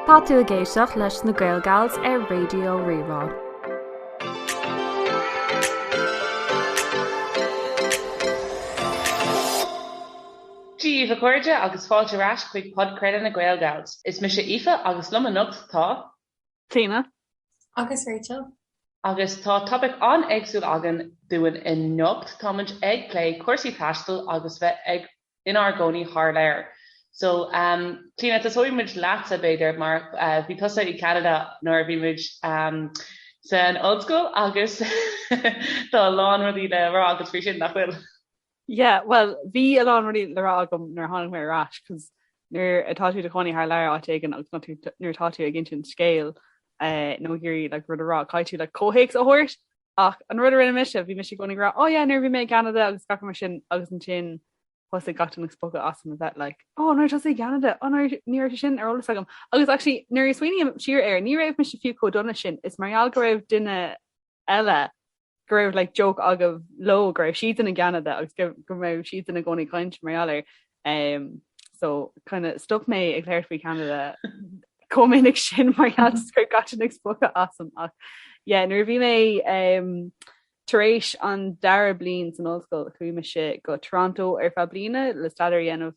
Tá tú ag éisteacht leis na GaelGals ar Raidió Rí-Rá. Daoibh a chairde agus fáilte ar ais chuig Podchraoladh na GaelGals. Is mise Aoife agus liom anocht tá. Clíodhna. Agus Rachel. Agus tá topaic an-éagsúil againn dúinn anocht, táimid ag plé cúrsaí taistil agus bheith ag inár gcónaí thar lear. So ehm Clíodhna, tosóidh muid leatsa b'fhéidir mar bhí tusa i gCeanada nuair a bhí muid ehm san ollscoil agus tá a lán rudaí le rá agat faoi sin, nach bhfuil? Yeah well bhí a lán rudaí le rá agam nuair a tháinig mé ar ais cos nuair atá tú i do chónaí thar lear áit éigin agus nuair atá tú ag insint scéil eh nó ag iarraidh like rud a rá caithfidh tú like comhthéacs a thabhairt ach an rud a rinne mise bhí mise i gcónaí ag rá oh yeah nuair a bhí mé i gCeanada agus gach mar sin agus ansin thosaigh gach duine ag spochadh asam a bheith like oh nuair a bhí tusa i gCeanada oh nuair ní raibh sé sin ar eolas agam agus actually nuair a smaoiním siar air ní raibh mise fiú chomh dona sin is mar gheall go raibh duine eile go raibh like joke agaibh leo go raibh siad i gCeanada agus go go raibh siad i gcónaí ag caint mar gheall air ehm so kind of stop mé ag labhairt faoi Cheanada chomh minic sin mar gheall just go raibh gach duine ag spochadh asam ach yeah nuair a bhí mé ehm tar éis an dara bliain san ollscoil chuaigh mise go Toronto ar feadh bliana le staidéar a dhéanamh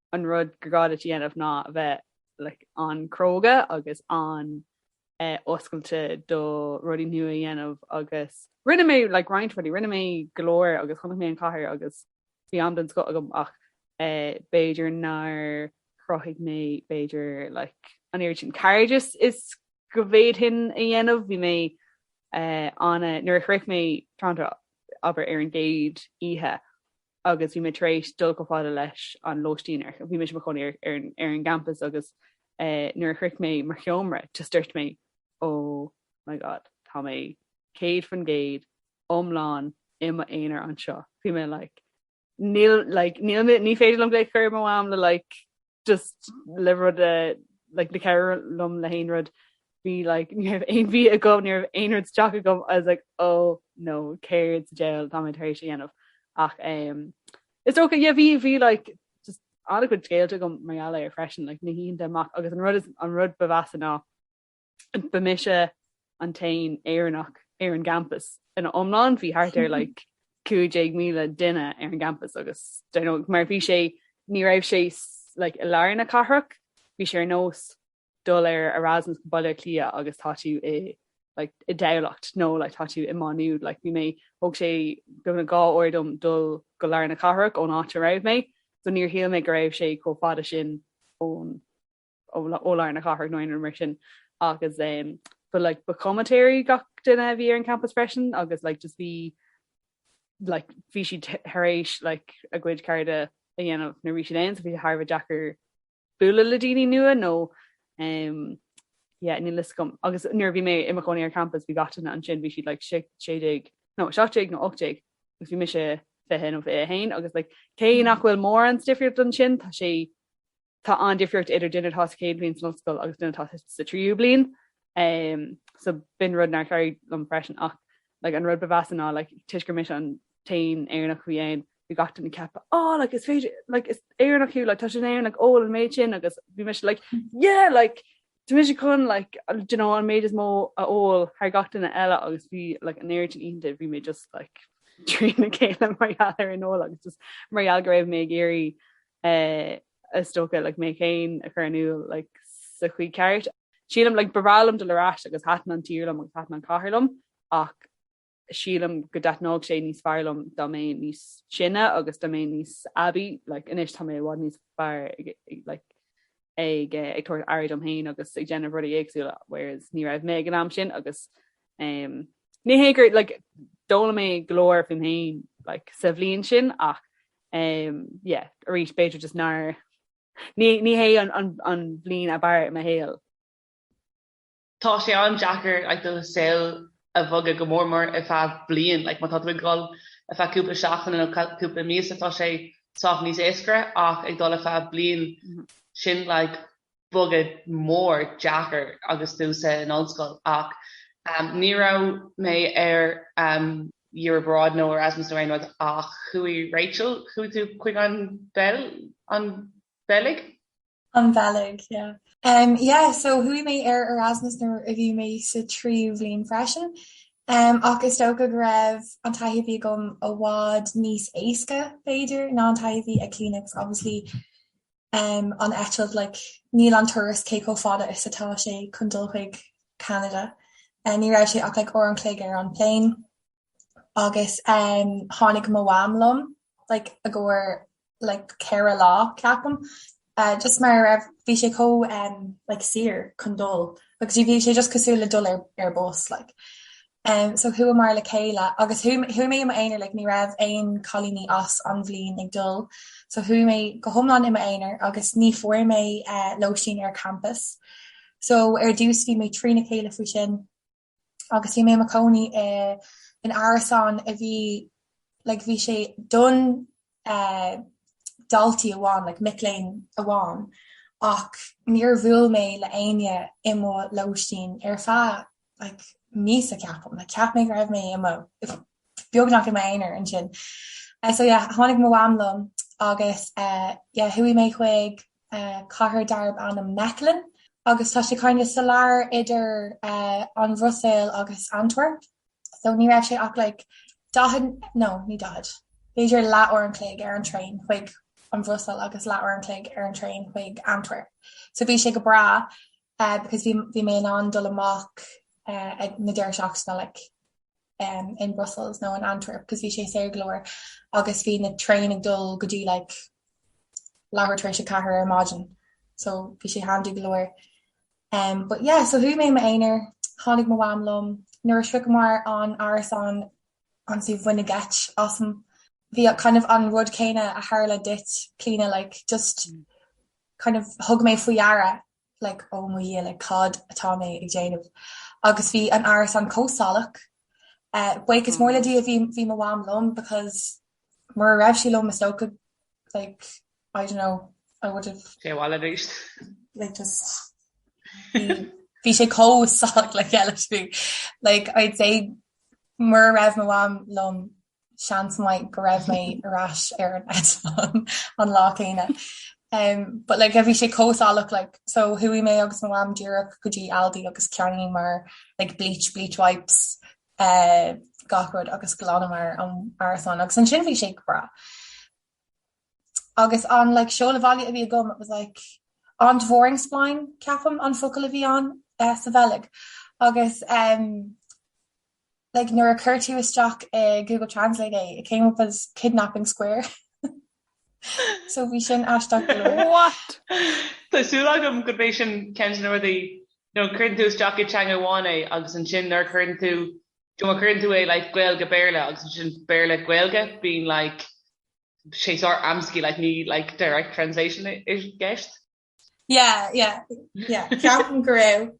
an rud gur gá duit a dhéanamh ná a bheith like an-chróga agus an-oscailte do rudaí nua a dhéanamh agus rinne mé like roinnt rudaí, rinne mé go leor agus chonaic mé an chathair agus bhí am den scoth agam ach b'fhéidir nár chruthaigh mé b'fhéidir like an oiread sin cairdeas is go bhféadfainn a dhéanamh, bhí mé ana nuair a shroich mé Toronto abair ar an gcéad oíche agus bhí mé tar éis dul chomh fada leis an lóistín ar, bhí mé is mo chónaí ar, ar, ar an gcampas agus eh, nuair a shroich mé mo sheomra, just dúirt mé, oh my God, tá mé céad faoin gcéad iomlán i m'aonar anseo. Bhí mé like, níl, like, níl, ní féidir liom glaoch a chur ar mo mham le like, just le rud a like le cabhrú liom le haon rud bhí like ní raibh aon bhia agam ní raibh aon rud isteach agam I was like ó oh, nó céard sa diabhal tá mé tar éis a dhéanamh ach um, is dócha yeah, bhí bhí like just an-chuid scéalta agam mar gheall ar freisin like na hoícheanta amach agus an rud is an rud ba mheasa ná ba mise an t-aon Éireannach ar an gcampas ina iomlán, bhí thart ar like 15,000 duine ar an gcampas agus do you know mar bhí sé ní raibh sé like i lár na cathrach, bhí sé ar nós dul ar Erasmus go Baile Átha Cliath agus tá tú i like i dTamhlacht nó like tá tú i Má Nuad, like bhí mé thóg sé beagnach dhá uair dom dul go lár na cathrach ón áit a raibh mé so níor shíl mé go raibh sé chomh fada sin ón ó lár na cathrach nó aon rud mar sin agus but like ba chomaitéirí gach duine a bhí ar an campas freisin agus like just bhí like bhí siad tar éis like a gcuid cairde a dhéanamh roimhe sin um so bhí sé thar a bheith deacair bualadh le daoine nua nó um, yeah, níl a fhios agam agus nuair bhí mé i mo chónaí ar campas bhí gach duine ansin bhí siad like 16 nó 17 nó 18 agus bhí mise 20 nó 21 agus like cé nach bhfuil mórán difríocht ansin tá sé Tá an-difríocht idir duine atá sa chéad bhliain san ollscoil agus duine atá sa tríú bliain. So b'in rud nár chabhraigh liom freisin ach like an rud ba mheasa ná like toisc gur mise an t-aon Éireannach a bhí ann bhí gach duine ag ceapadh á like is féidir like is Éireannach thú like tá sé in Éirinn like ól an méid sin agus bhí mise like yeah like Tá mise chun like do you know an méid is mó a ól thar gach duine eile agus bhí like an oiread sin oícheanta bhí mé just like trína chéile mar gheall ar an ól agus just mar gheall go raibh mé ag iarraidh eh is dócha like mé féin a chur in iúl like sa chaoi ceart. Sílim like ba bhreá liom dul ar ais agus thaitin an tír liom agus thaitin an chathair liom ach Sílim go dtaitneodh sé níos fearr liom dá mbeinn níos sine agus dá mbeinn níos aibí. Like, anois tá mé i bhfad níos fearr ag, like, ag, eh, ag tabhairt aire dom féin agus ag déanamh rudaí éagsúla, whereas ní raibh mé ag an am sin agus, em, ní hé gur, like, d'fhoghlaim mé go leor fúm féin, like, sa bhliain sin ach, em, yeah, arís b'fhéidir just nár, ní, ní hé an, an, an bhliain ab fhearr i mo shaol. Tá sé an-deacair do shaol a bhogadh, go mór mór ar feadh bliain. Like, má tá tú ag dul ar feadh cúpla seachtaine nó cúpla míosa, tá sé sách níos éascaire, ach ag dul ar feadh bliain, sin like bogadh mór deacair agus tú sa in ollscoil. Ach ehm, ní raibh mé ar ehm year abroad nó Erasmus nó aon rud, ach chuaigh Rachel, chuaigh tú chuig an Beil, an Bheilg? An Bheilg, yeah. Um yeah, so chuaigh mé ar Erasmus nuair a bhí mé sa tríú bhliain freisin um ach is dócha go raibh an taithí a bhí agam i bhfad níos éasca b'fhéidir ná an taithí a bhí ag Clíona agus obviously um an eitilt like níl an turas cé chomh fada is atá sé chun dul chuig Ceanada. Ní raibh sé ach like uair an chloig ar an plane. agus tháinig mo mham liom like i gcomhair like ceithre lá ceapaim just mar a raibh, bhí sé chomh like saor chun dul agus bhí sé just cosúil le dul ar bus like. So chuamar le chéile agus chuaigh mé i m'aonar like ní raibh aon cailíní as an bhliain ag dul so chuaigh mé go hiomlán i m'aonar agus ní fuair mé lóistín ar campus. So ar dtús bhí mé trína chéile faoi sin agus bhí mé i mo chónaí i in árasán a bhí like bhí sé don eh daltaí amháin like mic léinn amháin ach níor bhuail mé le éinne i mo lóistín ar feadh like míosa ceapaim like cheap mé go raibh mé i mo beagnach i m'aonar ansin. Eh so yeah tháinig mo mham liom agus eh yeah chuaigh mé chuig cathair darb ainm Mechelen agus tá sé kinda sa lár idir an Bhruiséil agus Antwerp so ní raibh sé ach like daichead nó ní daichead b'fhéidir leathuair an chloig ar an traein chuig an Bhruiséil agus leathuair an chloig ar an traein chuig Antwerp. So bhí sé go breá because bhí mé in ann dul amach ag na deireadh seachtaine like. in Brussels nó in Antwerp cos bhí sé saor go leor agus bhí na traein ag dul go dtí like leathuair tar éis a ceathair ar maidin so bhí sé handy go leor. But yeah so chuaigh mé i m'aonar, tháinig mo mham liom, nuair a shroicheamar an árasán ansin baineadh geit asam, bhí kind of an rud céanna a tharla duit Clíona like just kind of thug mé faoi deara like oh mo dhia like cad atá mé ag déanamh agus bhí an árasán chomh salach eh buíochas mór le Dia bhí mo mham liom because mura raibh sí liom is dócha like I don't know I would have like just bhí bhí sé chomh salach like I'd say mura raibh mo mham liom seans maith go raibh mé ar ais ar an eitleán an lá céanna. Em but like bhí sé chomh salach like so chuaigh mé agus mo mham díreach go dtí Aldi agus cheannaíomar like bleach, bleach wipes eh gach rud agus ghlanamar an árasán agus ansin bhí sé go breá. Agus an like seoladh baile a bhí agam it was like Ontvoeringsplein ceapaim an focal a bhí ann eh sa Bheilg agus em Like nuair a chuir tú isteach i Google Translate é, it came up as kidnapping square. So bhí sin aisteach go leor. What? Tá súil agam go mbeadh sin ceann de na rudaí, you know, cuireann tú isteach i teanga amháin é agus ansin nuair a chuireann tú, you know, má chuireann tú é like Gaeilge-Béarla agus ansin Béarla-Gaeilge, bíonn like, sé saghas amscaí, like ní like direct translation i gceist. Yeah, yeah, yeah. Ceapaim go raibh.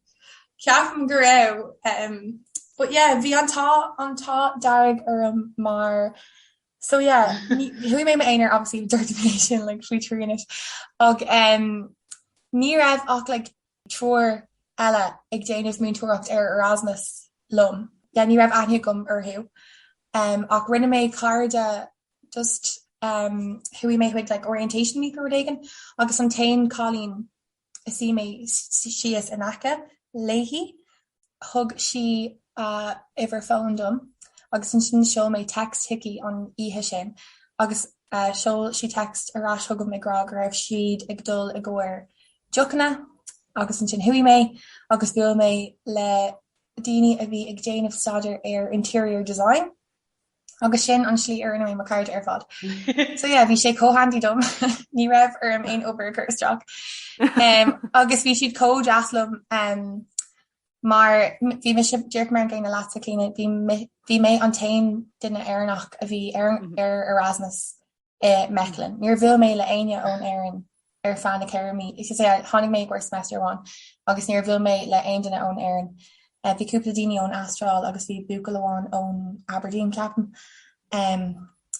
Ceapaim go raibh. Um, but yeah, bhí an t-ádh an t-ádh dearg orm mar so yeah, chuaigh mé i m'aonar obviously dúirt mé sin like faoi trí anois ach um, ní raibh ach like triúr eile ag déanamh múinteoireacht ar Erasmus liom. Yeah, ní raibh aithne agam orthu um, ach rinne mé cairde just chuaigh mé chuig like orientation week nó rud éigin agus an t-aon cailín a suigh mé síos in aice léi thug sí a uimhir fóin dom agus ansin sheol mé text chuici an oíche sin agus sheol sí text ar ais chugam ag rá go raibh siad ag dul i gcomhair deochanna agus ansin chuaigh mé agus bhuail mé le daoine a bhí ag déanamh staidéar ar interior design. Agus sin an slí ar rinne mé mo cairde ar fad. So yeah, bhí sé chomh handy dom, ní raibh orm aon obair a chur isteach. Agus bhí siad chomh deas liom mar bhí mise, déarfaidh mé an gcéanna leatsa Clíona, bhí mé an t-aon duine Éireannach a bhí ar Erasmus. i Mechlin. Níor bhuail mé le éinne ón Éirinn ar feadh na ceithre mí, is is ea, tháinig mé i gcomhair semester amháin, agus níor bhuail mé le aon duine ón Éirinn. Bhí cúpla daoine ón Astráil agus bhí buachaill amháin ón Aberdeen, ceapaim.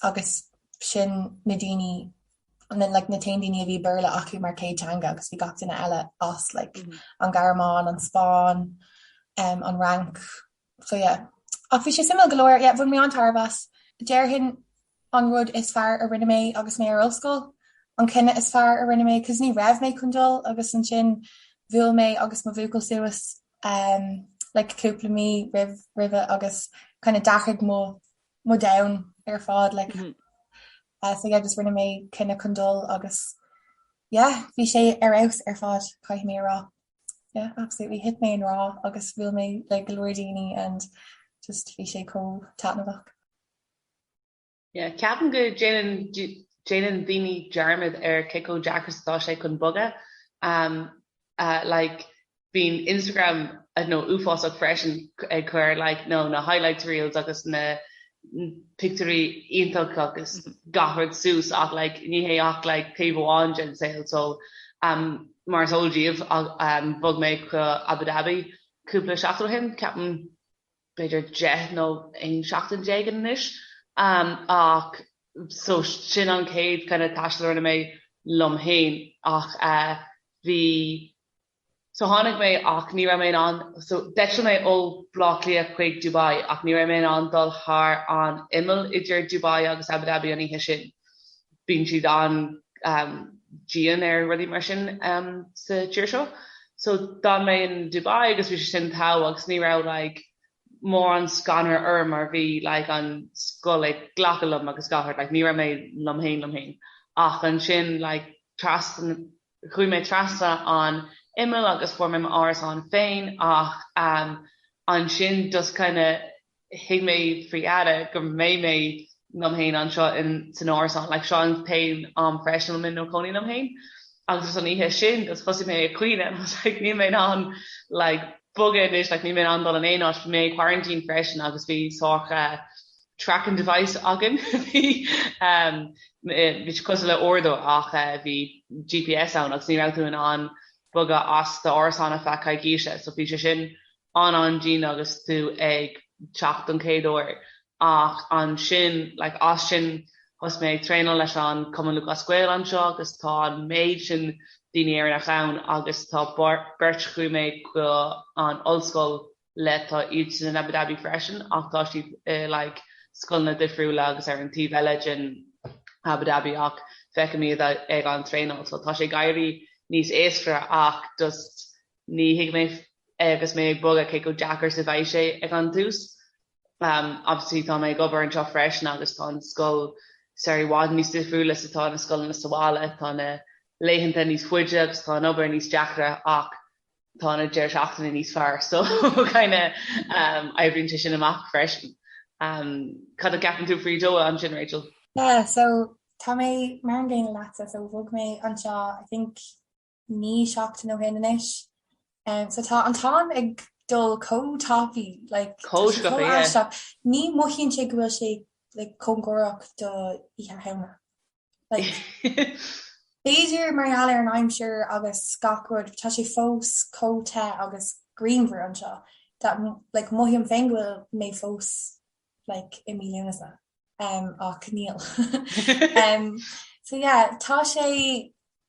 Agus sin na daoine, na, like, na t-aon daoine a bhí Béarla acu mar céad teanga, agus bhí gach duine eile as, like, an Ghearmáin, an Spáinn, an Fhrainc, so yeah. Ach bhí sé suimiúil go leor, yeah, bhain mé an-tairbhe as. Déarfainn an rud is fearr a rinne mé agus mé ar ollscoil, an cinneadh is fearr a rinne mé, cos ní raibh mé chun dul agus ansin bhuail mé agus mo bhuachaill suas ehm like cúpla mí roimh roimhe agus kind of d'athraigh mo mo domhan ar fad like eh so yeah just rinne mé cinneadh chun dul agus yeah bhí sé ar fheabhas ar fad caithfidh mé a rá. Yeah absolutely thit mé i ngrá agus bhuail mé le go leor daoine and just bhí sé chomh taitneamhach. Yeah ceapaim go déanann déanann daoine dearmad ar cé chomh deacair agus atá sé chun bogadh umm ahh like bíonn Instagram i don't know uafásach freisin ag cur like nó na highlights reels agus na pictiúirí iontach agus gach rud suas ach like ní hé ach like taobh amháin den saol so umm Mar is eol daoibh, bhog mé go Abu Dhabi cúpla seachtain ó shin, ceapaim b'fhéidir deich nó aon seachtain déag anois, ach so sin an chéad kind of taisteal a rinne mé liom féin, ach bhí, so tháinig mé ach ní raibh mé in ann, so d'eitil mé ó Bhleá Cliath chuig Dubai ach ní raibh mé in ann dul thar an imeall idir Dubai agus Abu Dhabi an oíche sin, bíonn siad an-dian ar rudaí mar sin sa tír seo. So d'fhan mé in Dubai agus bhí sé sin togha agus ní raibh like mórán scanradh orm mar bhí like an scoil ag glacadh liom agus gach rud like ní raibh mé liom féin liom féin. Ach ansin like trasna, chuaigh mé trasna an imeall agus fuair mé m'árasán féin ach ansin just kinda thuig mé faoi fhada go mbeidh mé liom féin anseo san árasán, like, seo an t-aon am freisin a bhfuil mé i mo chónaí liom féin. Agus is an oíche sin just thosaigh mé ag caoineadh and I was like níl mé in ann like bogadh anois, like níl mé in ann dul in aon áit, bhí mé in quarantine freisin agus bhí sorta tracking device againn, bhí ehm bhí siad cosúil le uaireadóir ach bhí GPS ann agus ní raibh tú in ann bogadh as d'árasán ar feadh coicíse, so bhí sé sin an-dian agus tú ag teacht don chéad uair ach ansin like as sin thosaigh mé ag traenáil leis an Cumann Lúthchleas Gael anseo agus tá an méid sin daoine Éireannach ann agus tá beirt chuaigh mé go an ollscoil le tá iad sin in Abu Dhabi freisin ach tá siad i like scoileanna difriúla agus ar an taobh eile den Abu Dhabi ach feicim iad ag an traenáil so tá sé ag éirí níos éasca ach just Ní thuig mé agus mé ag bogadh cé chomh deacair is a bheadh sé ag an tús. Obviously tá mé ag obair anseo freisin agus tá an scoil sorta i bhfad níos difriúla is atá na scoileanna sa bhaile. Tá na laethanta níos faide agus tá an obair níos deacra ach tá na deireadh seachtaine níos fearr so kinda oibríonn sé sin amach freisin. Cad a cheapann tú faoi Doha ansin Rachel? Yeah so tá mé mar an gcéanna leatsa so bhog mé anseo I think naoi seachtain ó shin anois. So tá an t-am ag dul chomh tapaí, like, tá sé chomh aisteach. Ní mothaíonn sé go bhfuil sé, like, cóngarach do Oíche Shamhna. Like, b'fhéidir mar gheall ar an aimsir agus gach rud, tá sé fós chomh te agus grianmhar anseo, that, like, mothaím féin go bhfuil mé fós, like, i mí Lúnasa, ach níl. So yeah, tá sé,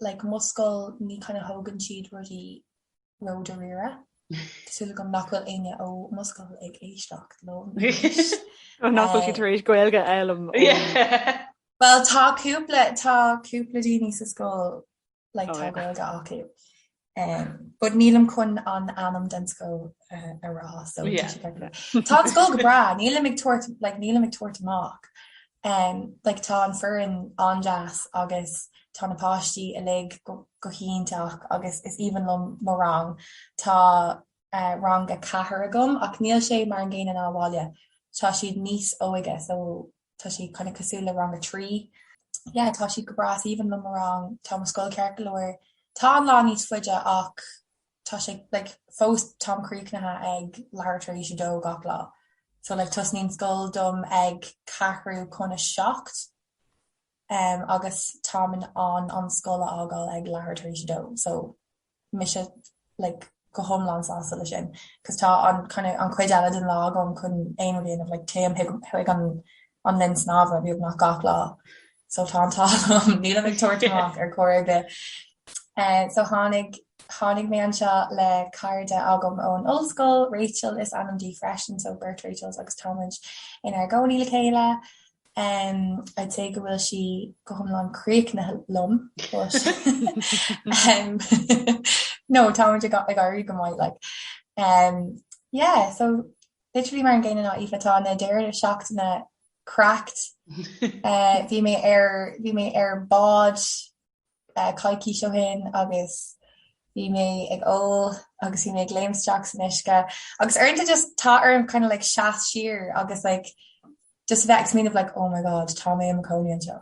like mo scoil ní kind of thógann siad rudaí ró dáiríre. Tá súil agam nach bhfuil éinne ó mo scoil ag éisteacht liom anois. Ó nach bhfuil siad tar éis Gaeilge a fhoghlaim ó Yeah. Bhuel tá cúpla tá cúpla daoine sa scoil like tá Gaeilge acu. but nílim chun an ainm den scoil a rá so tá sé beag rud. Tá an scoil go breá, nílim ag tabhairt like nílim ag tabhairt amach eh like tá an foireann an-deas agus tá na páistí uilig go hiontach agus is aoibhinn liom mo rang. Tá eh rang a ceathair agam ach níl sé mar an gcéanna ná abhaile, tá siad níos óige so tá siad kind of cosúil le rang a trí. Yeah, tá siad go breá, is aoibhinn liom mo rang, tá mo scoil ceart go leor. Tá an lá níos faide ach tá sé like fós táim críochnaithe ag leathuair tar éis a dó gach lá. So like tosnaíonn scoil dom ag ceathrú cun a seacht agus táim in ann an scoil a fhágáil ag leathuair tar éis a dó, so. mise like go hiomlán sásta leis sin cos tá an kind of an cuid eile den lá agam chun aon rud a dhéanamh like téim chuig an an linn snámha beagnach gach lá so tá an t-ádh agam nílim ag tabhairt amach ar chor ar bith eh so tháinig tháinig mé anseo le cairde agam ón ollscoil Rachel is ainm di freisin so beirt Rachels agus táimid inár gcónaí le chéile. I'd say go bhfuil sí go hiomlán críochnaithe liom no, táimid ag éirí go maith like. Yeah, so literally mar an gcéanna ná Aoife, tá na deireadh seachtaine cracked, bhí mé ar bhí mé ar bád coicís ó shin agus bhí mé ag ól agus bhí mé ag léim isteach san uisce agus uaireanta just tá orm kind of like seas siar agus like just bheith ag smaoineamh like oh my god tá mé i mo cónaí anseo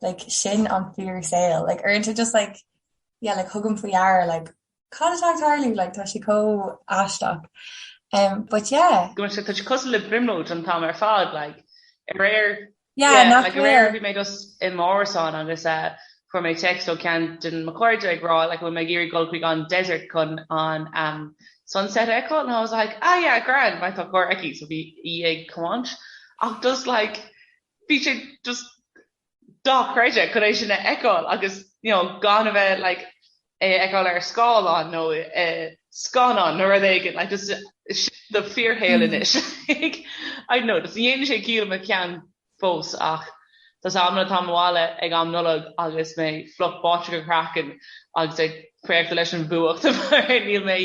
like sin an fíor saol like uaireanta just like yeah like thugaim faoi deara like cad atá ag tarlú like tá sé chomh aisteach um but yeah go sé tá sé cosúil le brionglóid an t-am ar fad like aréir yeah nach like aréir bhí mé just i m'árasán agus a uh, fuair mé text ó ceann de mo chairde ag rá like bhfuil mé ag iarraidh goil chuig an desert chun an um sunset a fheiceáil and I was like ah yeah grand mar tá carr aici so bhí í ag tiomáint ach just like bhí sé just dochreidte chun é sin a fheiceáil agus you know gan a bheith like é a fheiceáil ar scáileán nó i scannán nó rud éigin like just sin do fíorshaol anois like I don't know just ní dhéanann sé ciall i mo cheann fós ach tá a fhios agam nuair atáim abhaile ag am Nollag agus mé fliuch báite go craiceann agus ag préachta leis an bhfuacht níl mé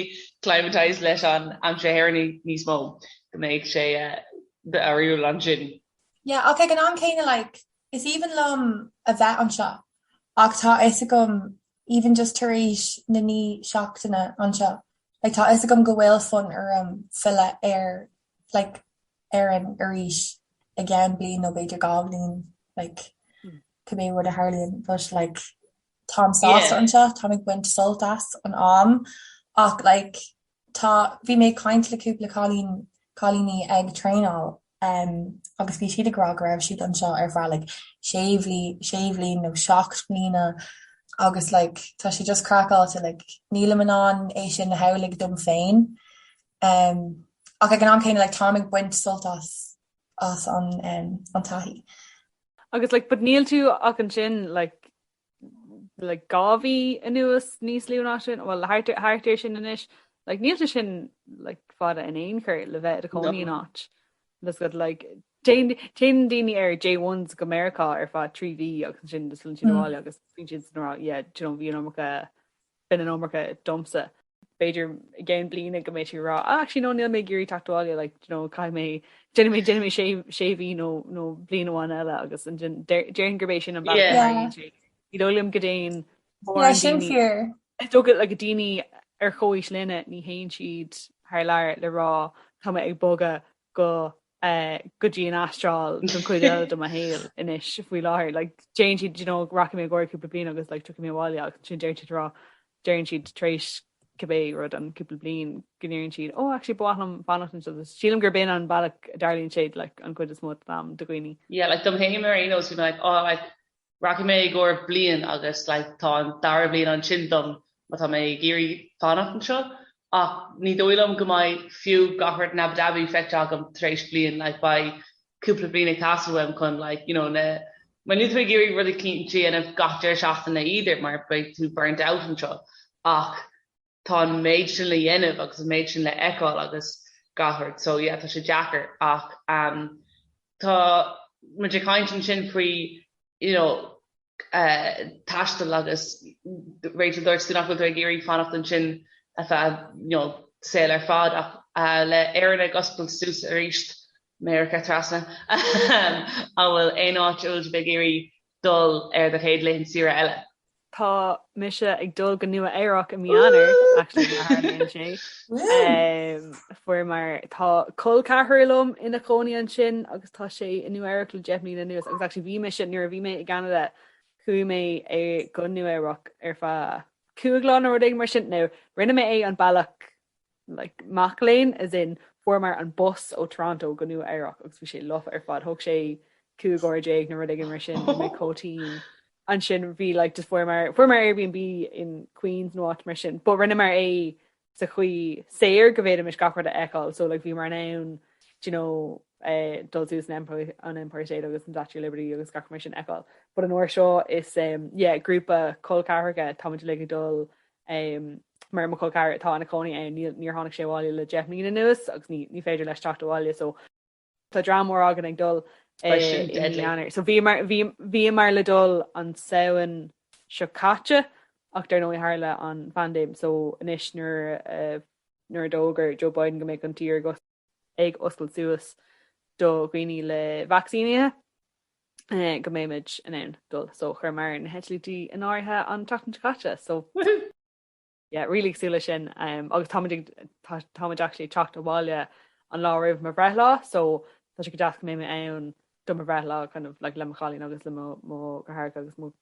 climatized leis an aimsir na hÉireann níos mó go mbeidh sé eh, difriúil ansin. Yeah, ach ag an am céanna, like, is aoibhinn liom a bheith anseo ach tá a fhios agam, even just tar éis na naoi seachtaine anseo, like, tá a fhios agam go bhfuil fonn orm filleadh ar, like, Éirinn arís i gceann bliain nó b'fhéidir dhá bhliain, like, cibé rud a tharlaíonn, but, like, táim sásta anseo, táim ag baint sult as an am ach, like, tá, bhí mé ag caint le cúpla cailín, cailíní ag traenáil Em. agus bhí siad ag rá go raibh siad anseo ar feadh like sé bhlí, sé bhliain nó seacht mbliana agus like tá sé just craiceáilte like nílim in ann é sin a shamhlaigh dom féin ach ag an am céanna like táim ag baint sult as, as an em, an taithí. Agus like but níl tú ach ansin like like dhá mhí anuas, níos lú ná sin, bhuel thart ar thart ar sin anois, like níl sé sin like fada in aon chor le bheith i do chónaí in áit. That's good like téann téann daoine ar J1s go Meiriceá ar feadh trí mhí agus ansin just filleann siad abhaile agus bíonn siad ag rá yeah do you know bhí an iomarca bhí an iomarca domsa. b'fhéidir i gceann bliana go mbeidh tú ag rá ah actually no níl mé ag iarraidh teacht abhaile like do you know caithfidh mé déanfaidh mé déanfaidh mé sé sé mhí nó nó bliain amháin eile agus an sin déar- déarfainn gurb é sin an bealach Yeah. Yeah. maraíonn sé ní dóigh liom go dtéann Yeah, mórán sin daoine fíor. is dócha like daoine ar chomhaois linne ní théann siad thar lear le rá go bhfuil mé ag bogadh go go dtí an Astráil don chuid eile de mo shaol anois faoi láthair like téann siad you know rachaidh mé i gcomhair cúpla bliain agus like tiocfaidh mé abhaile agus ansin deireann siad a rá deireann siad tar éis cibé rud an cúpla bliain go ndéarfaidh siad oh actually ba mhaith liom fanacht anseo so sílim gurb in an bealach a dtarlaíonn siad like an chuid is mó den am do dhaoine. Yeah like dom féin ar aon nós bhí mé like oh like Rachaidh mé i gcomhair bliain agus like tá an dara bliain ansin dom má tá mé ag iarraidh fanacht anseo ach ní dóigh liom go mbeidh fiú gach rud in Abu Dhabi feicthe agam tar éis bliain like beidh cúpla bliain ag teastáil uaim chun like you know na mar níl tú ag iarraidh rudaí a dhéanamh gach deireadh seachtaine either mar beidh tú burnt out anseo ach tá an méid sin le dhéanamh agus an méid sin le fheiceáil agus gach rud, so yeah, tá sé deacair ach tá muid ag caint ansin faoi you know taisteal agus Rachel dúirt tú nach bhfuil tú ag iarraidh fanacht ansin ar feadh you know saoil ar fad ach le Éirinn ag oscailt suas aríst, Meiriceá trasna, an bhfuil aon áit a bhfuil sibh ag iarraidh dul ar do chéad laethanta saoire eile. Tá mise ag dul go Nua Eabhrac i mí Eanáir, actually má tharlaíonn sé. Fuair mar, tá col ceathrair liom ina chónaí ansin agus tá sé i Nua Eabhrac le deich mbliana anuas agus actually bhí mise, nuair a bhí mé i gCeanada, chuaigh mé go Nua Eabhrac ar feadh cúig lá nó rud éigin mar sin, now rinne mé é an bealach like, mac léinn, as in, fuaireamar an bus ó Toronto go Nua Eabhrac agus bhí sé lofa ar fad, thóg sé cúig uair déag nó rud éigin mar sin, bhí mé chomh tinn. Ansin bhí like just fuaireamar, fuaireamar Airbnb in Queens nó áit mar sin, but rinneamar é sa chaoi saor go bhféadfaimis gach rud a fheiceáil, so like bhíomar in ann do you know eh dul suas an Empire, an Empire State agus an Statue of Liberty agus gach rud mar sin a fheiceáil, but an uair seo is eh yeah grúpa col ceathracha, táimid uilig ag dul mar mo chol ceathar atá ina chónaí ann, níl, níor tháinig sé abhaile le deich mbliana anuas agus ní, ní féidir leis teacht abhaile so tá dream mór againn ag dul i, Tá sin i mí deadly. Eanáir. So bhíomar, bhí, bhíomar le dul an Samhain seo caite ach dar ndóigh tharla an phaindéim so anois nuair a, nuair a d'fhógair Joe Biden go mbeadh an tír go, ag oscailt suas do dhaoine le vacsaínithe go mbeimid in ann dul so chuireamar na heitiltí in áirithe an tseachtain seo caite so woohoo! yeah really ag súil leis sin um, agus táimid ag táimid actually ag teacht abhaile an lá roimh mo bhreithlá so tá sé go deas go mbeidh mé ann do mo bhreithlá kind of like le mo chailín agus le mo mo dheartháireacha agus mo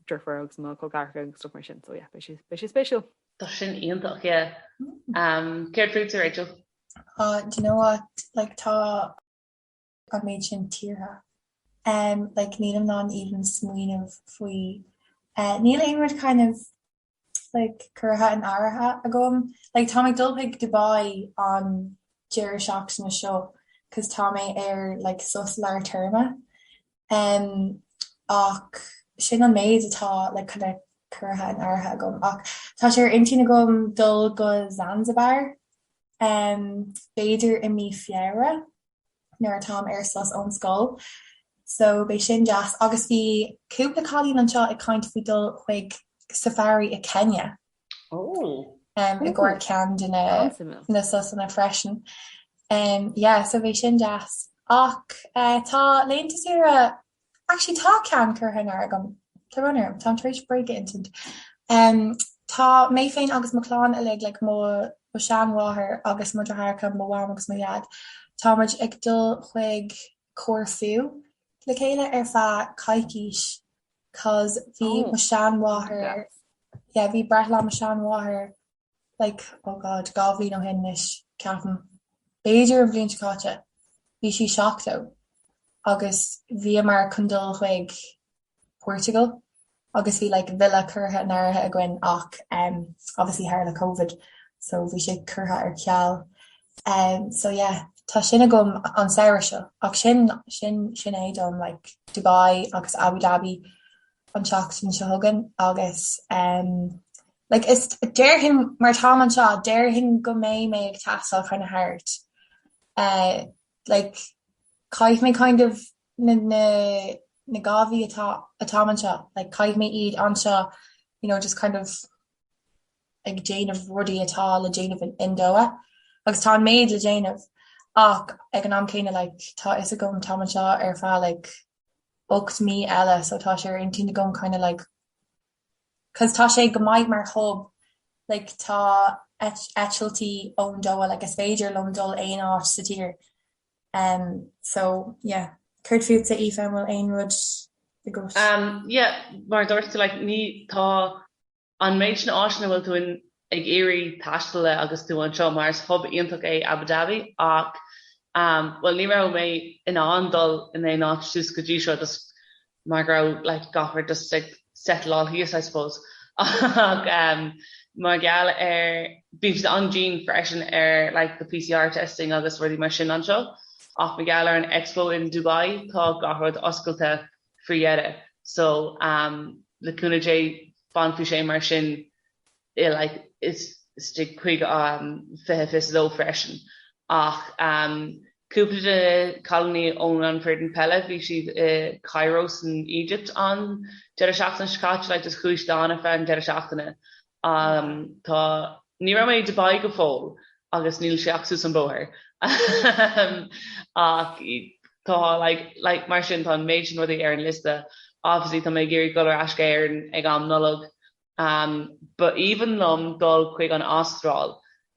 deirfiúr agus mo chol ceathracha agus stuff mar sin so yeah beidh sé beidh sé spéisiúil. Tá sin iontach, yeah. Céard fútsa Rachel? do you know what, like tá an méid sin tíortha em like nílim in ann even smaoineamh faoi eh níl aon rud kind of like curtha in áirithe agam like tá mé ag dul chuig Dubai an deireadh seachtaine seo cos tá mé ar like sos lár téarma em ach sin an méid atá like kind of curtha in áirithe agam ach tá sé ar intinn agam dul go Zanzibar em b'fhéidir i mí Feabhra nuair atáim ar sos ón scoil so beidh sin deas agus bhí cúpla cailín anseo ag caint faoi dul chuig safari i Kenya i gcomhair ceann de na sosanna freisin. Yeah, so bheadh sin deas. Ach tá laethanta saoire, actually tá ceann curtha in áirithe agam, tá brón orm, táim tar éis bréag a insint. Tá mé féin agus mo chlann uilig, like mo seanmháthair agus mo dheartháireacha, mo mham agus mo dhaid, tá muid ag dul chuig Corfu le chéile ar feadh coicís. 'cause bhí mo sheanmháthair, yeah, bhí breithlá mo sheanmháthair like, oh God, dhá bhliain ó shin anois, ceapaim, b'fhéidir an bhliain seo caite, bhí sí seachtó agus bhíomar chun dul chuig Portugal agus bhí like villa curtha in áirithe againn ach obviously tharla covid so bhí sé curtha ar ceal. so yeah tá sin agam an samhradh seo ach sin sin sin é dom like Dubai agus Abu Dhabi an tseachtain seo chugainn agus em like is déarfainn mar táim anseo déarfainn go mbeidh mé ag taisteal chun na háit eh like caithfidh mé kind of na na na dhá mhí atá atáim anseo like caithfidh mé iad anseo you know just kind of ag déanamh rudaí atá le déanamh in Doha agus tá an méid le déanamh ach ag an am céanna like tá fhios agam táim anseo ar feadh like ocht mí eile so tá sé ar intinn agam kind of like cos tá sé go maith mar hub like tá eitiltí ón Doha like is féidir liom dul aon áit sa tír ehm so yeah. Céard fútsa Aoife an bhfuil aon rud i gcúis? Ehm yeah mar a dúirt tú like ní tá An méid sin áiteanna a bhfuil tú ag iarraidh taisteal le agus tú anseo, mar is hub iontach é Abu Dhabi, ach bhuel, ní raibh mé in ann dul in aon áit suas go dtí seo just mar go raibh like gach rud just ag settle-áil thíos I suppose ach mar gheall ar bíonn siad an-dian freisin ar like the PCR testing agus rudaí mar sin anseo ach mar gheall ar an Expo in Dubai tá gach rud oscailte faoi dheireadh. So, le cúnamh Dé, fanfaidh sé mar sin i like isteach chuig 2022 freisin. Ach cúpla de na cailíní ón an foireann peile, bhí siad i Cairo san Éigipt an deireadh seachtaine seo caite like just chuaigh siad ann ar feadh an deireadh seachtaine Am, Tá, ní raibh mé i Dubai go fóill agus níl sé ach suas an bóthar. Ehm. Ach tá like, like mar sin tá an méid sin rudaí ar an liosta. Obviously tá mé ag iarraidh dul ar ais go hÉirinn ag am Nollag. Am, Ba aoibhinn liom dul chuig an Astráil.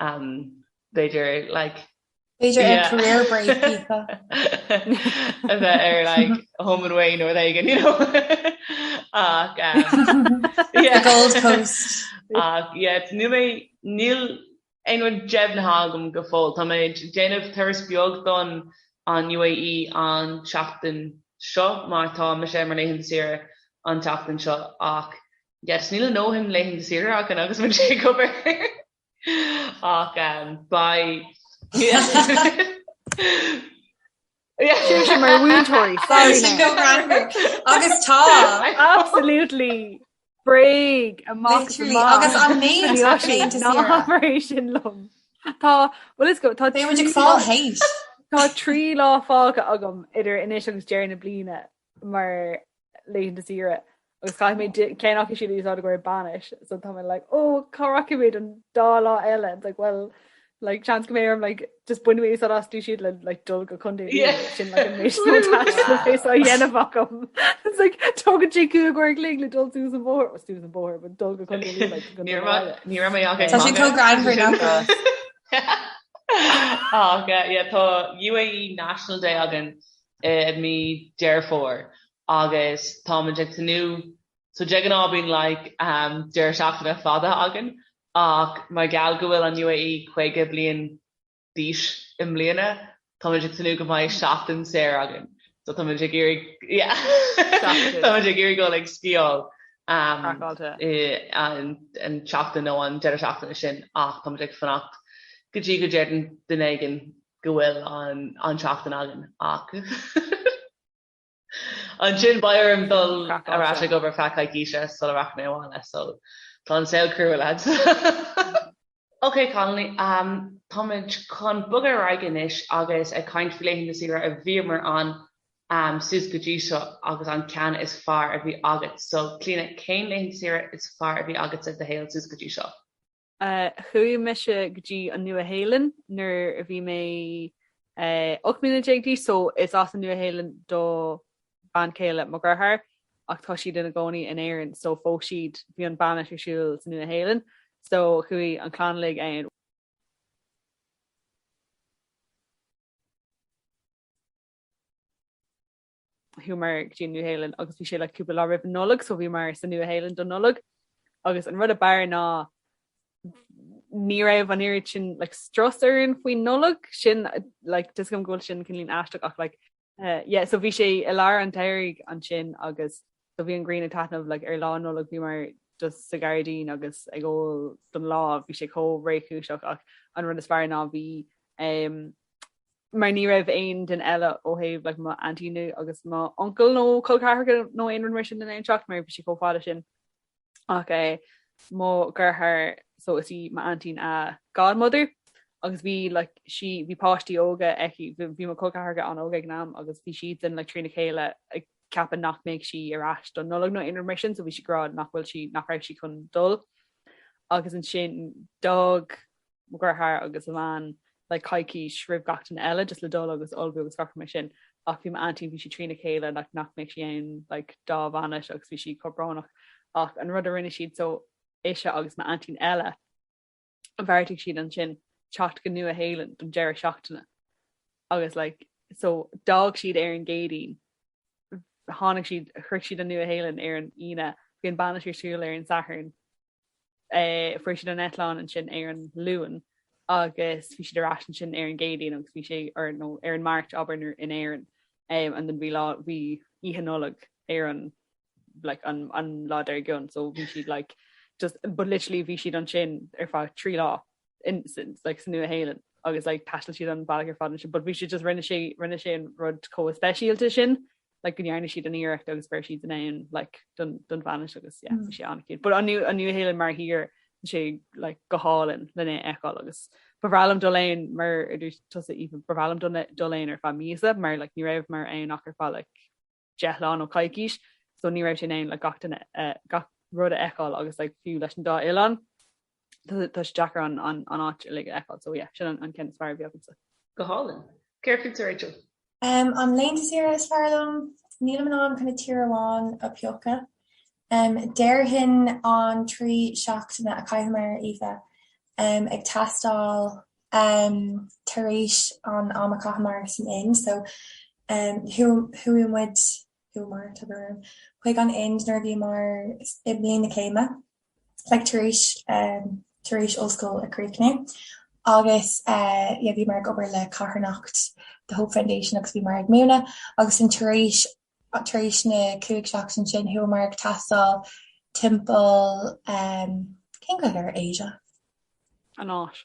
b'fhéidir like. B'fhéidir ar career break Aoife. a bheith ar like home and away nó rud éigin you know ach yeah the gold coast ach yeah níl mé níl aon rud deimhnithe agam go fóill. Tá mé ag déanamh turas beag don an UAE an tseachtain seo mar tá sé mar laethanta saoire an tseachtain seo ach Yes, níl a ndóthain laethanta saoire againn agus bhain sé ag obair ach by. Siúil sé mar mhúinteoirí agus tá absolutely bréag amach agus amach é sin liom. Tá bhfuil fhios agat tá dé ag fá hééis. Tá trí lá fágtha agam idir anois agus deireadh na bliana mar laethanta saoire agus caithfidh mé ceann acu siúd a úsáid i gcomhair bainis so tá mé like ó cá rachaidh mé don dá lá eile like well like seans go mbeidh orm like just bainfidh mé úsáid astu siúd le like dul go chundé sin dhéanamh agam it's like tógann sé cúig uair an chloig le dul suas an bóthar was suas an bóthar but dul go chundé ní raibh mé an tá sin cógraimhar nach Tá UAE National Day againn i mí Deireadh Fómhair agus táimid ag tnúth, so de ghnáth bíonn like deireadh seachtaine fada againn ach mar gheall go bhfuil an UAE caoga bliain d'aois i mbliana táimid ag tnúth go mbeidh seachtain saor againn so táimid ag iarraidh yeah táimid ag iarraidh dul ag sciáil an tseachtain nó an deireadh seachtaine sin ach táimid ag fanacht go dtí go ndeireann duine éigin go bhfuil an tseachtain againn ach ansin beidh orm dul ar ais ag obair feadh coicíse sula rachaidh mé abhaile so tá an saol cruaidh lads. Ok Connolly, um, táimid chun bogadh ar aghaidh anois agus ag caint faoi laethanta saoire a bhíomar ann um, suas go dtí seo agus an ceann is fearr a bhí agat. So Clíona, cén laethanta saoire is fearr a bhí agatsa i do shaol suas go dtí seo? Chuaigh mise go dtí an Nua-Shéalainn nuair a bhí mé 18 mbliana d'aois, so is as an Nua-Shéalainn do bhean chéile mo dhearthár ach tá siad ina gcónaí in Éirinn, so phós siad, bhí an bainis ar siúl sa Nua-Shéalainn, so chuaigh an clann uilig ann. Chuamar go dtí an Nua-Shéalainn agus bhí sé like cúpla lá roimh an Nollaig, so bhíomar sa Nua-Shéalainn don Nollaig agus an rud a b'fhearr ná ní raibh an oiread sin like strus orainn faoin Nollaig sin like tá a fhios agam go bhfuil sin cineáilín aisteach ach like eh, yeah, so bhí sé i lár an tsamhraidh ansin agus so bhí an ghrian ag taitneamh like ar lá Nollaig bhíomar just sa gairdín agus ag ól don lá bhí sé chomh réchúiseach ach an rud is fearr ná bhí um, mar ní raibh aon duine eile ó thaobh like mo aintín nó agus mo uncail nó col ceathracha nó aon rud mar sin in ann teacht mar bhí sé chomh fada sin ach eh mo dheartháir so is í m'aintín a godmother agus bhí like sí bhí páistí óga aici bhí bhí mo col ceathracha an-óg ag an am agus bhí siadsan like trína chéile ag ceapadh nach mbeadh sí ar ais don Nollaig nó aon rud mar sin so bhí sí ag rá nach bhfuil sí nach raibh sí chun dul agus ansin d'fhág mo dheartháir agus a bhean like coicís roimh gach duine eile just le dul agus ullmhú agus gach rud mar sin ach bhí m'aintín bhí sí trína chéile like nach mbeadh sí ann like dá bhainis agus bhí sí chomh brónach ach an rud a rinne siad so ise agus m'aintín eile bheartaigh siad ansin teacht go Nua Shéalainn don deireadh seachtaine agus like so d'fhág siad ar an gCéadaoin tháinig siad shroich siad an Nua Shéalainn ar an Aoine bhí an bainis ar siúl ar an Satharn fuair siad an eitleán ansin ar an Luan agus bhí siad ar ais ansin ar an gCéadaoin agus bhí sé ar nó ar an Máirt abair in Éirinn um and then bhí lá bhí Oíche Nollag ar an like an an lá dár gcionn so bhí siad like just but literally bhí siad ansin ar feadh trí lá ins like sa Nua Shéalainn agus like thaistil siad an bealach ar fad ansin, but bhí siad just rinne sé rinne sé an rud chomh speisialta sin like go ndearna siad an iarracht agus go raibh siad in ann like don don bhainis agus yeah bhí sé an cute but an Nua an Nua Shéalainn mar thír bhí sé like go hálainn lena fheiceáil agus ba bhreá liom dul ann mar a dúirt tusa Aoife ba bhreá liom dul dul ann ar feadh míosa mar like ní rabhamar ann ach ar feadh like deich lá nó coicís so ní rabhas in ann like gach duine eh, gach rud a fheiceáil agus like fiú leis an dá oileán Tá sé deacair an an áit uilig a fheiceáil so yeah, sin an ceann is fearr a bhí agamsa. Go hálainn. Céard fútsa Rachel? An laethanta saoire is fearr liom, nílim in ann kind of tír amháin a phiocadh. Déarfainn an trí seachtaine a chaitheamar Aoife ag taisteal tar éis an am a chaitheamar san Ind so chuaigh muid, chuamar, tugamar, chuig an Ind nuair a bhíomar i mbliain na céime. like tar éis eh tar éis ollscoil a chríochniú agus eh yeah bhíomar ag obair le carthanacht The Hope Foundation agus bhíomar ag múineadh agus ansin tar éis tar éis na cúig seachtain sin chuamar ag taisteal timpeall eh cén Ghaeilge ar Asia? An Áis.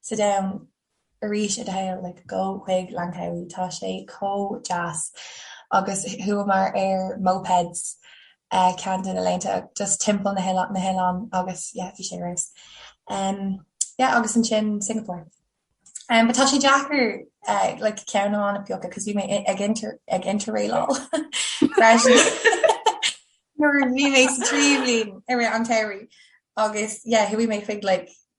Sa domhan arís i do shaol, like gabh chuig Langkawi, tá sé chomh deas. Agus chuamar ar mopeds ceann de na laethanta just timpeall na hoileáin, na hoileáin agus yeah, bhí sé race. Em, yeah agus ansin Singapore. Em, but tá sé deacair eh like ceann amháin a phiocadh cos bhí mé i- ag inter- ag interrailáil freisin. Nuair a bhí mé sa tríú bliain i rith an tsamhraidh agus yeah, chuaigh mé chuig like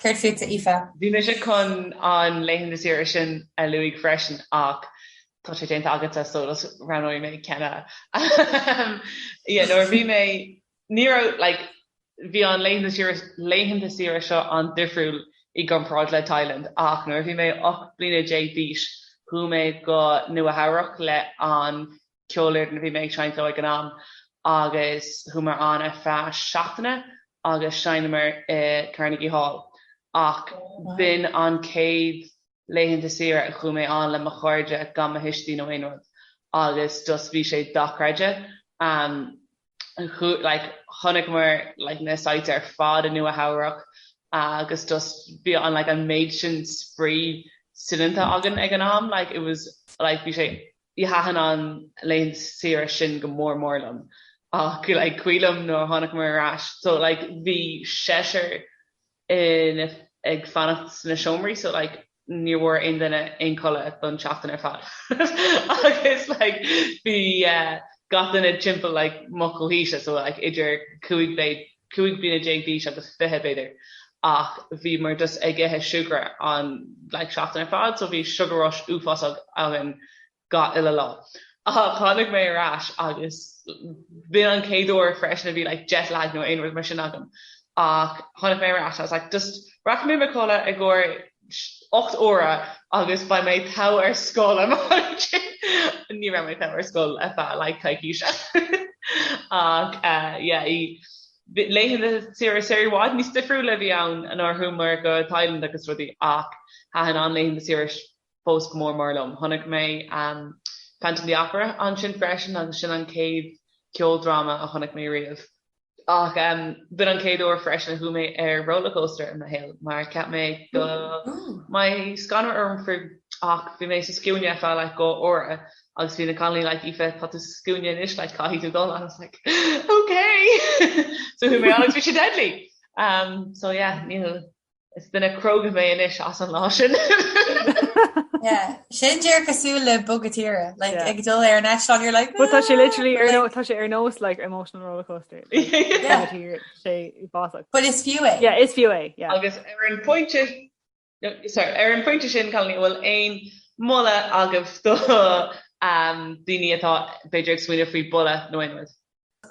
Céard fútsa, Aoife? Bhí mise chun an laethanta saoire sin a lua freisin ach tá sé déanta agatsa so roghnóidh mé ceann eile. Nuair a bhí mé, ní raibh like, bhí an laethanta saoire seo an-difriúil i gcomparáid le Thailand ach nuair a bhí mé 18 bliana d'aois chuaigh mé go Nua-Eabhrac le an ceolfhoireann a bhí mé ag seinnt leo ag an am agus chuamar ann ar feadh seachtaine agus sheinneamar i Carnegie Hall ach b'in an chéad laethanta saoire a chuaigh mé air le mo chairde gan mo thuistí nó aon rud agus just bhí sé dochreidte. like chonaic muid like na sights ar fad i Nua Eabhrac agus just bhí an like an méid sin spraoi soineanta againn ag an am, like it was like bhí sé bhí thaitin an laethanta saoire sin go mór mór liom ach like cuimhin liom nuair a tháinig muid ar ais so like bhí seisear againn ag fanacht sna seomraí so like ní bhfuair aon duine aon codladh don tseachtain ar fad agus like bhí eh gach duine timpeall like mo chomhaois so like idir cúig b'fhéidir cúig bliana déag d'aois agus fiche b'fhéidir ach bhí muid just ag ithe siúcra an like seachtain ar fad so bhí sugar rush uafásach againn gach uile lá. Ach tháinig mé ar ais agus b'in an chéad uair freisin a bhí like jet lag nó aon rud mar sin agam. Ach tháinig mé ar ais, I was like just rachaidh mé i mo chodladh i gcomhair ocht uaire agus beidh mé togha ar scoil an lá sin. Ní raibh mé togha ar scoil ar feadh like coicíse. Ach yeah laethanta saoire saoire i bhfad níos difriúla a bhí ann in áiteanna mar Thailand agus rudaí ach thaitin an laethanta saoire fós go mór mór liom. Chonaic mé Phantom of the Opera ansin freisin agus sin an chéad cheoldráma a chonaic mé riamh. Ach b'in an chéad uair freisin a chuaigh mé ar rollercoaster i mo shaol mar cheap mé go mbeadh scanradh orm faoi ach bhí mé sa scuaine ar feadh like dhá uair agus bhí na cailíní like Aoife tá tú sa scuaine anois like caithfidh tú dul and I was like okay! So chuaigh mé ann agus bhí sé deadly! So yeah, níl Is duine cróga mé anois as an lá sin. Yeah, sin díreach cosúil le bogadh tíre, like yeah. ag dul ar an eis you're like But tá sé literally ar nó tá sé ar nós like emotional roller coaster go bunúsach. But is fiú é. Yeah, is fiú é. Yeah. Agus ar an pointe sorry, ar an pointe sin Clíona bhfuil aon mholadh agat do um, daoine atá b'fhéidir ag smaoineamh faoi bhogadh nó aon rud.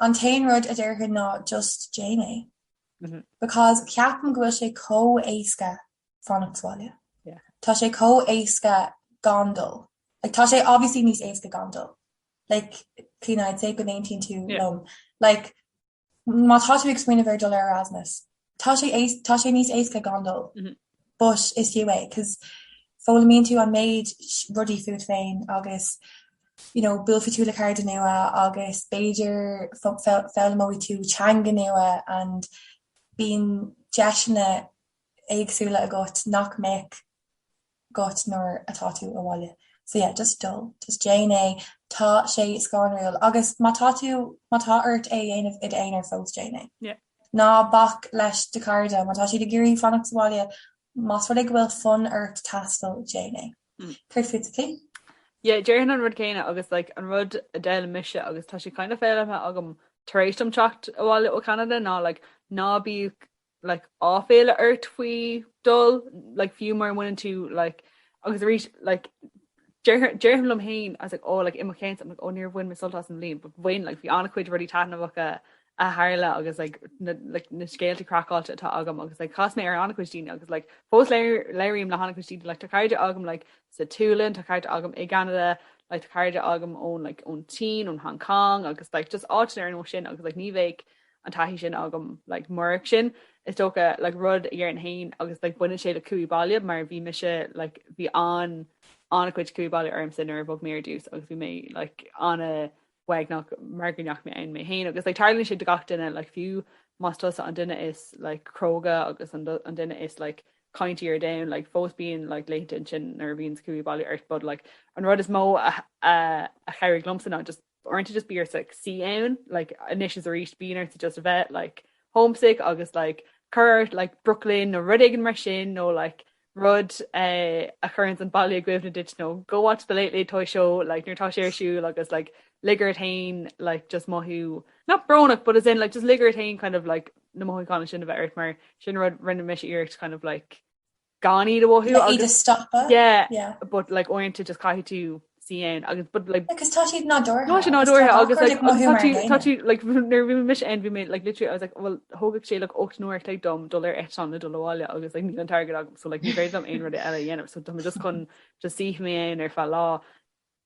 An t-aon rud a déarfainn ná just déan é. because ceapaim go bhfuil sé chomh éasca fanacht sa bhaile. Tá sé chomh éasca gan dul. Like tá sé obviously níos éasca gan dul. Like Clíona I'd say go n-aontaíonn tú liom. Like má tá tú ag smaoineamh faoi dul ar Erasmus, tá sé éas- tá sé níos éasca gan dul. But is fiú é, 'cause foghlaimíonn tú an méid rudaí fút féin agus you know buailfidh tú le cairde nua agus b'fhéidir foghlaimeoidh tú teanga nua and bíonn deiseanna éagsúla agat nach mbeadh agat nuair atá tú abhaile. So yeah, just dul, just déan é, tá sé scanrúil agus má tá tú, má tá ort é a dhéanamh i d'aonar fós, déan é. Yeah. Ná bac leis do chairde má tá siad ag iarraidh fanacht sa bhaile. Más rud é go bhfuil fonn ort taisteal, déan é. Céard fútsa? Yeah, déarfainn an rud céanna agus like an rud a d'fhoghlaim mise agus tá sé kind of foghlamtha agam tar éis dom teacht abhaile ó Cheanada ná like ná bíodh like áiféala ort faoi dhul like fiú mura mbaineann tú like agus arís like déarfainn déarfainn liom féin I was like oh like i mo cheann I'm like oh níor bhain mé sult as an bhliain but bhain like bhí an-chuid rudaí taitneamhacha a tharla agus like na like na scéalta craiceáilte atá agam agus like chas mé ar ana-chuid daoine agus like fós labhraím le hana-chuid daoine like tá cairde agam like sa tSualainn tá cairde agam i gCeanada like tá cairde agam ón like ón tSín ón Hong Kong agus like just áiteanna ar nós sin agus like ní bheadh an taithí sin agam like murach sin is dócha like rud ar aon agus like baineann sé le cumha i baile mar bhí mise like bhí an ana-chuid cumha i baile ormsa nuair a bhog mé ar dtús agus bhí mé like ana uaigneach mar go ndeachaigh mé ann mé féin agus like tarlaíonn sé do gach duine like fiú más tusa an duine is like cróga agus an an duine is like caintí ar domhan like fós bíonn like laethanta ansin nuair a bhíonn cumha i baile ort but like an rud is mó a a a chabhraigh liomsa ná just uaireanta just bíonn ort like suí ann like anois is arís bíonn ort just a bheith like homesick agus like cur air like Brooklyn nó rud éigin mar sin nó like rud a chuireann an baile i gcuimhne duit nó go watch the late late toy show like nuair tá sé ar siúl agus like lig duit féin like just mothú not brónach but as in like just lig duit féin kind of like na mothúcháin sin a bheith ort mar sin rud rinne mise iarracht kind of like gan iad a mhothú le iad a stopadh yeah yeah but like uaireanta just caithfidh tú suí ann agus but like. Like because tá siad nádúrtha. Tá siad nádúrtha agus like tá siad tá siad like nuair bhí mise ann bhí mé like literally I was like well thógadh sé like 8 n-uaire like dom dul ar eitleán le dul abhaile agus like níl an t-airgead agam so like ní féidir dom aon rud eile a dhéanamh so tá mé just chun just suífidh mé ar feadh lá.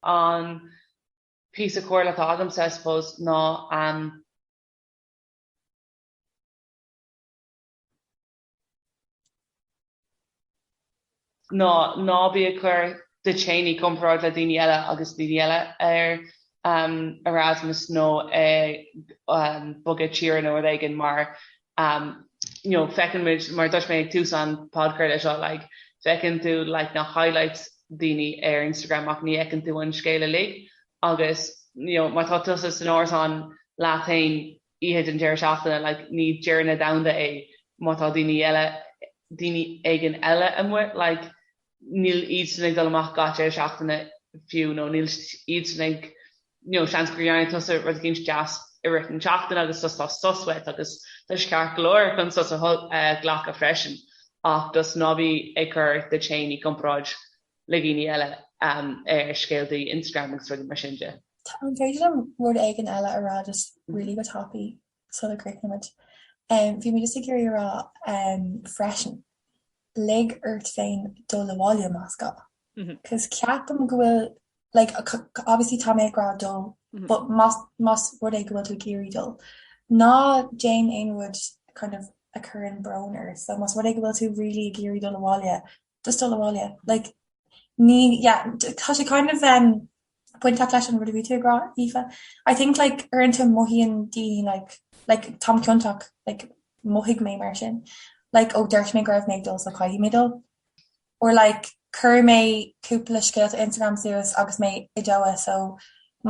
An píosa comhairle atá agamsa I suppose ná an. ná ná bí ag cur tú féin i gcomparáid le daoine eile agus daoine eile ar Erasmus nó ag bogadh tíre nó rud éigin mar you know feiceann muid mar dúirt mé ag tús an podchraolta seo like feiceann tú like na highlights daoine ar Instagram ach ní fheiceann tú an scéal uilig agus you know má tá tusa san árasán leat féin oíche den deireadh seachtaine, like, ní deireadh an domhain é má tá daoine eile, daoine éigin eile amuigh, like, níl iadsan ag dul amach gach deireadh seachtaine fiú nó níl iadsan ag, you know, seans gur dhearna tusa rud éigin deas i rith na seachtaine agus sos, tá sos uait agus tá sé ceart go leor chun sos a ghlacadh freisin ach just ná bí ag cur tú féin i gcomparáid le daoine eile ar scéalta Instagram agus rudaí mar sin de. An féidir liom rud éigin eile a rá just really go tapaidh sula gcríochnaímid? Bhí mé just ag iarraidh a rá freisin, lig ort féin dul abhaile más gá cause ceapaim go bhfuil like obviously tá mé ag rá dul but más rud é go bhfuil tú ag iarraidh dul, ná déan aon rud kind of a chuireann brón ort. So más rud é go bhfuil tú really ag iarraidh dul abhaile, just dul abhaile like ní yeah tá sé kind of um bainteach leis an rud a bhí tú ag rá Aoife. I think like uaireanta mothaíonn daoine like like táim ciontach like mothaigh mé mar sin like ó dúirt mé go raibh mé ag dul so caithfidh mé dul or like chuir mé cúpla scéalta Instagram suas agus mé i Doha so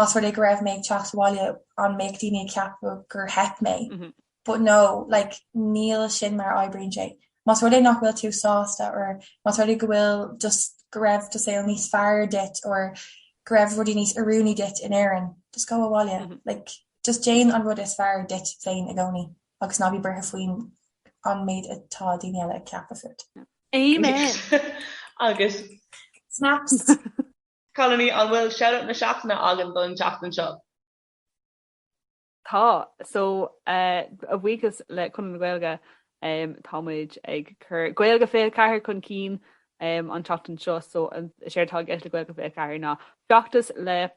más rud é go raibh mé ag teacht abhaile an mbeadh daoine ag ceapadh gur theip mé? but no, like níl sin mar a oibríonn sé. Más rud é nach bhfuil tú sásta or más rud é go bhfuil just go raibh do shaol níos fearr duit or go raibh rudaí níos oiriúnaí duit in Éirinn, just go abhaile. Like, just déan an rud is fearr duit féin i gcónaí agus ná bí buartha faoin an méid atá daoine eile ag ceapadh fút. Amen! Agus. Snaps! Cailíní, an bhfuil shout out na seachtaine againn don tseachtain seo? Tá. So, a bhuíochas le Conradh na Gaeilge, tá muid ag cur Gaeilge 24 chun cinn an tseachtain seo, so is éard atá i gceist le Gaeilge 24 ná feachtas le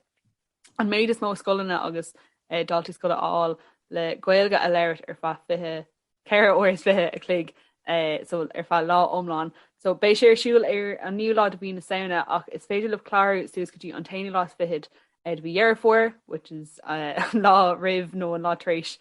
an méid is mó scoileanna agus daltaí scoile a fháil le Gaeilge a labhairt ar feadh 24 4 uaire is 20 a chloig so ar feadh lá iomlán. So beidh sé ar siúl ar an naoú lá de mhí na Samhna ach is féidir libh clárú suas go dtí an t-aonú lá is fichead de mhí Dheireadh Fómhair, which is an lá roimh nó an lá tar éis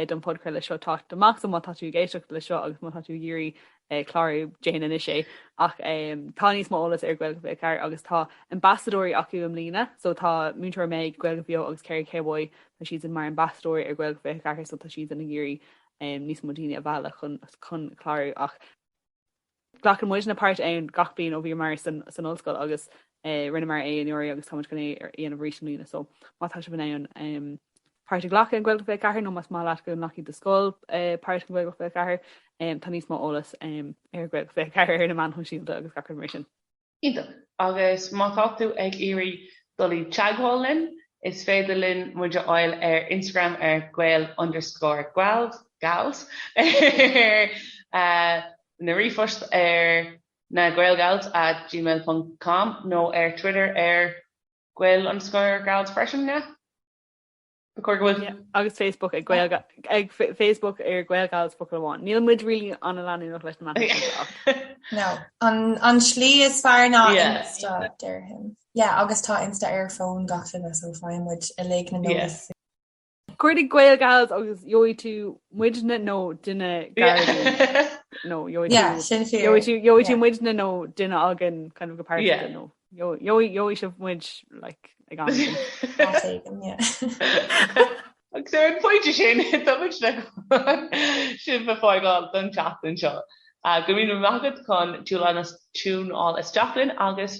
don podchraoladh seo teacht amach. So má tá tú ag éisteacht le seo agus má tá tú ag iarraidh clárú déan anois é ach tá níos mó eolas ar Gaeilge 24 agus tá ambasadóirí acu i mbliana so tá Múinteoir Meg Gaeilge Bheo agus Kerry Cowboy tá siad san mar ambasadóirí ar Gaeilge 24 so tá siad san ag iarraidh níos mó daoine a mhealladh chun chun clárú ach glacann muidne páirt ann gach bliain ó bhíomar san san ollscoil agus Rinneamar é anuraidh agus táimid chun é a dhéanamh arís i mbliana so má tá sibh in ann páirt a ghlacadh in Gaeilge 24 nó más maith leat go nglacfadh do scoil eh, páirt in Gaeilge 24 em, tá níos mó eolas em, ar Gaeilge 24 ar na meáin shóisialta agus gach rud mar sin. Iontach. Agus má tá tú ag iarraidh dul i dteagmháil linn, is féidir linn muid a fháil ar Instagram ar gael underscore gals, gals eh, nó ríomhphost ar. na GaelGals at gmail ponc com nó ar Twitter ar gael underscore gals freisin, yeah? Ba chóir go bhfuil. Yeah, agus Facebook ag gael ag Facebook ar GaelGals focal amháin. Níl muid really ana leanúnach leis na meáin seo ach. No, an an slí is fearr ná insta, déarfainn. Yeah, agus tá insta ar fhón gach duine so faigheann muid uilig na notifications. Cuardaigh GaelGals agus gheobhaidh tú muidne nó duine gairid nó gheobhaidh tú muidne nó duine againn kind of go páirteach nó gheobhaidh sibh muid like ag am féin. Agus ar an phointe sin, táimid le sibh a fhágáil don tseachtain seo. Go míle maith agat as tiúnáil isteach linn agus